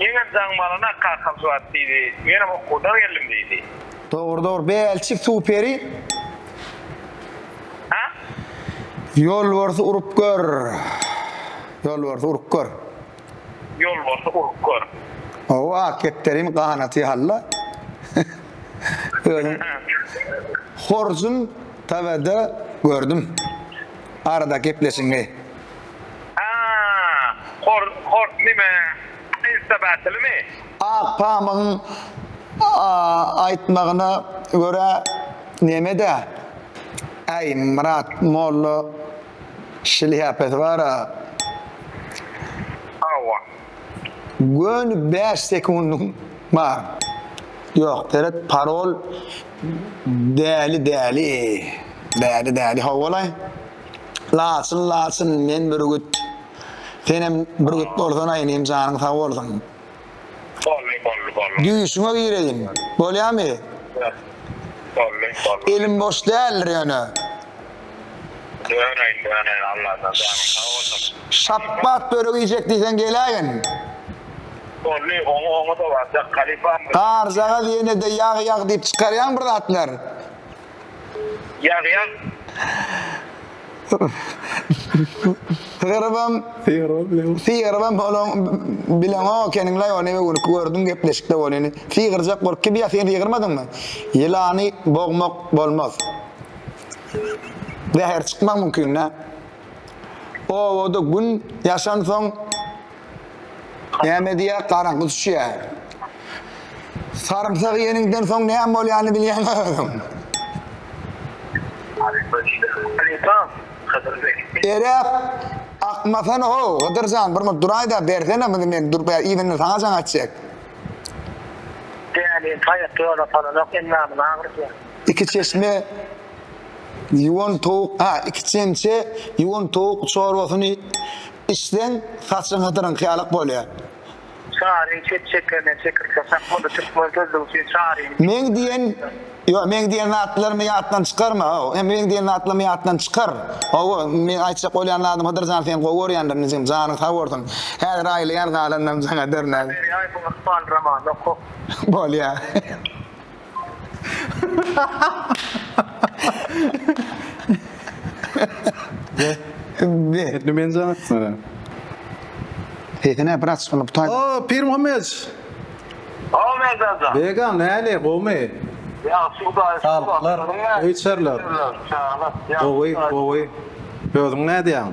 Meňem jaň malynda kakam şu wagt diýdi. Menem okuwdan geldim diýdi. Dogry dogry Belçik superi. Hä? Ýolbarsy urup gör. Ýolbarsy urup gör. Ýolbarsy urup gör. Hawa ak kepderin ganaty halla. Özüm horjun TW-de gördüm. Arada gepleşiňi. Hort nime insta bätelimi. Ak pamygyň aýtmagyna görä nemede äý Myrat molla şlýapasy bara. Hawa. Göni bäş sekundyň bar. Ýok seret parol däli däli däli däli howwalaý. Laçyn laçyn men bürgüt. Senem bürgüt bolsana inim janyň sag bolsun. Bolly bolly bolly. Düýşüňe gireýin. Bolýamy? Bolly bolly. Elim boş däldir ýöne. Döneýin döneýin Allajan janyň sag bolsun. Şapbat börek iýjek diýseň geläýin. Bolly oňa oňa-da barjak halypam. Garjagaz ýene-de ýag ýag diýip çykarýaň bir zatlar. Ýazýan. Sygrybam, sygrybam bolon bileňok ekeniňlaý ony we günki gördüm gepleşikde bolýany. Sygyrjak bolup kim ýa sen sygyrmadyňmy? Ýylany bogmak bolmaz. Zäher çykmak mümkin dä. Obada gün ýaşansoň Näme diýýär, garaňky düşýär. Sarymsak iýeniňden soň näme bolýanyny bilýäňmi özüň? Halypa diýdi. Halypa, Hydyr beg. Eräp, Akmasana-how, Hydyr jan, bir murt duraý-da, bersene muny men durup iýdinden saňa jaň etjek. Dälini taýak ýola salanok, endamyny agyrtýar. Iki çeşme ýuwan towuk, ha, iki çemçe ýuwan towuk çorbasyny içseň saçyň hydyryňky ýalak bolýar. Çaryň çep çekene çekirke sakmaly türkmen sözlügi üçin çaryň Meň diýen Ýok meň diýen zatlarymy ýatdan çykarma how hem meň diýen zatlarymy ýatdan çykar hawa meň aýtjak bolýan zadym Hydyr jan seni gowy görýändir inijigim janyň sag bolsun häzir aýylaýan galanynam saňa dörner. Berýaýewiň ykbal romanyny oka. Bolýa. Etni ben zan etmeli. Sesine biraz ulup tay. Aa, Pir Muhammed. Aa, Merdancan. Bega, näle, gowmy? Ýagşy Hudaýa Saglyk, Öýçerler. Gowy, gowy. Özüň nädýäň?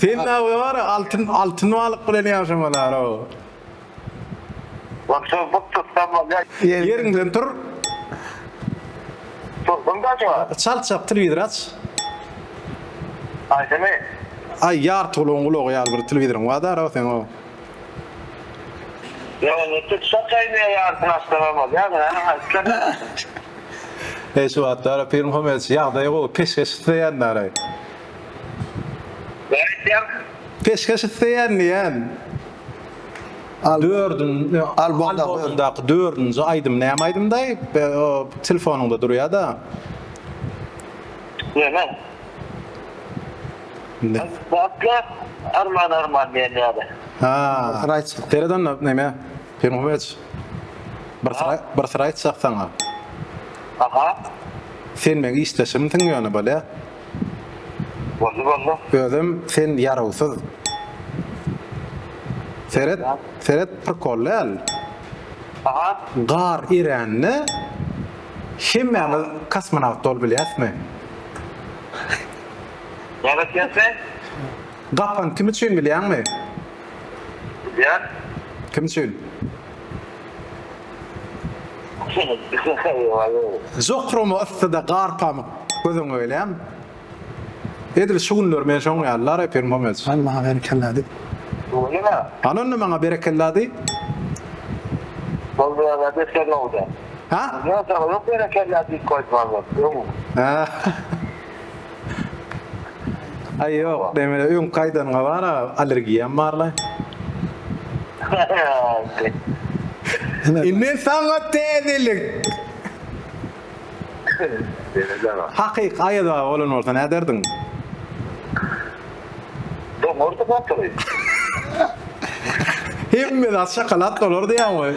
Sen da wara altyn altyn balyk bilen ýaşamalaroo. Wah şol buk tutsam bolýa. Ýeriňden tur. Turdum da şu wagt. Çalt çalt telewizor aç. Aýdymy. Aý ýartygulaň gulagy ýaly bir telewizoryň bar daro seň o. Eý şu wagtlara film hom edişi ýagdaýy gowy peşgeş isleýändaray. Näme aýtýaň? Peşgeş isleýän diýýän. Dördünji albomdaky dördünji aýdym näme aýdym daýy telefonyňda durýada. Näme? Indi. Batga arman arman diýen ýaly. Ha. Bir syr aýtjak. Seret onda näme? Pemgubeç. Bir syr bir syr aýtjak saňa. Aha. Sen meň işdeşimsiň ýöne bolýa. Boldy boldy. Özem sen ýarawsyz. Seret seret prikol däl. Aha. Gar erände hemmämiz kosmonawt bolup bilýäsmi? Näme etýäň sen? Gapan kim üçin bilýäňmi? Bilýän. Kim üçin? Jokrama yssyda gar pamyk gözüňe gelýämi? Edil şu günler men şoň ýaly la reper Momec. Al maňa berekella diý. Öýleme. Al onda maňa berekella diý. Boldy ýa-da beter nowda. Ha? Ýa-da ýok berekella diýip goýdum almaly. Öň. Aý ýok, demine öňki aýdanyňa bar-a, allergiýam barlaý. Indi saňa täzelik. Hakyky Aýaz baba bolan bolsa näderdiň? Doňardy gatygy. Hemme zat şokolad bolardy ýaňy.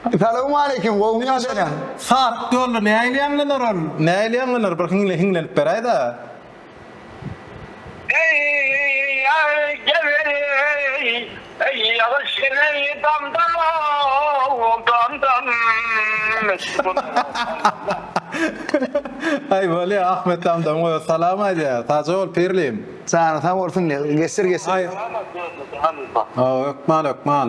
Salowmaleýkim gowymy ýa belämi. Saryk ýolda nähili ýaňlanar ol. Nähili ýaňlanar bir hiňle hiňlenip beräýdä. Eý gebereý eý ýagyş eneý damdam ow damdam meşhur damdam. Aý bolýa Ahmet damdam goýa salam aýdýa sagja bol pirlim. Janyň sag bolsun geçir geçir. Hökman hökman.